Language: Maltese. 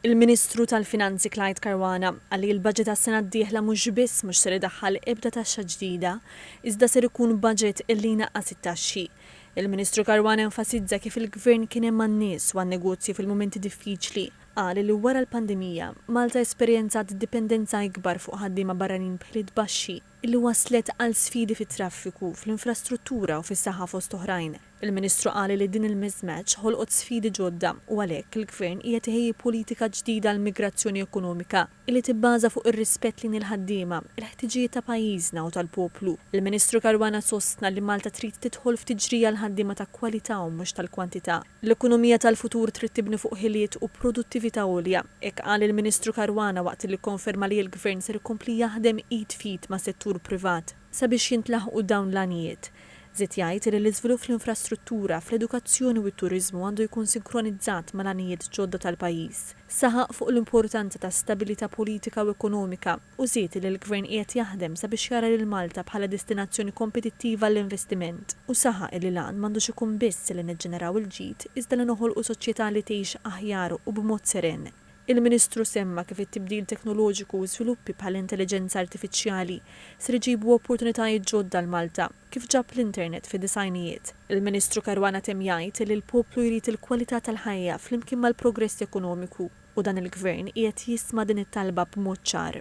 Il-Ministru tal-Finanzi Clyde Caruana qal li l-budget għas-sena d-dieħla mhux biss mhux ser idaħħal ebda taxxa ġdida, iżda ser ikun budget li jnaqqas it-taxxi. Il-Ministru Caruana enfasizza kif il-Gvern kien hemm għan-nies u għan-negozji fil-mumenti diffiċli. Qal li wara l-pandemija, Malta esperjenzat dipendenza ikbar fuq ħaddiema barranin b'ħiliet baxxi. li wasslet għal sfidi fit-traffiku, fl-infrastruttura u fis-saħħa fost oħrajn. Il-Ministru qal li din il-mismatch ħolqot sfidi ġodda u għalhekk il-Gvern qiegħed iħejji politika ġdida għall-migrazzjoni ekonomika li tibbaża fuq ir-rispett lejn il-ħaddiema, il-ħtiġijiet ta' pajjiżna u tal-poplu. Il-Ministru Caruana sostna li Malta trid tidħol f'tiġrija għal ħaddiema ta' kwalità u mhux tal-kwantità. L-ekonomija tal-futur trid tibni fuq ħiliet u produttività għolja. Hekk qal il-Ministru Caruana waqt li kkonferma li l-Gvern ser ikompli jaħdem id f'id mas-settur privat sabiex jintlaħqu dawn l-għanijiet. Żied jgħid li l-iżvilupp fl-infrastruttura, fl-edukazzjoni u t-turiżmu għandu jkun sinkronizzat mal-għanijiet ġodda tal-pajjiż. Saħaq fuq l-importanza ta' stabilità politika u ekonomika. u żied li l-Gvern qiegħed jaħdem sabiex jara lil Malta bħala destinazzjoni kompetittiva għall-investiment u saħaq li l-għan m'għandux ikun biss li niġġeneraw il-ġid iżda li noħolqu soċjetà li tgħix aħjar u b'mod seren. Il-Ministru semma kif it-tibdil teknoloġiku u żviluppi bħall-intelliġenza artifiċjali ser iġibu opportunitajiet ġodda għal Malta, kif ġab l-internet fid-disgħinijiet. Il-Ministru Caruana temm jgħid li l-poplu jrid il-kwalità tal-ħajja flimkien mal-progress ekonomiku. U dan il-Gvern qiegħed jisma' din it-talba b'mod ċar.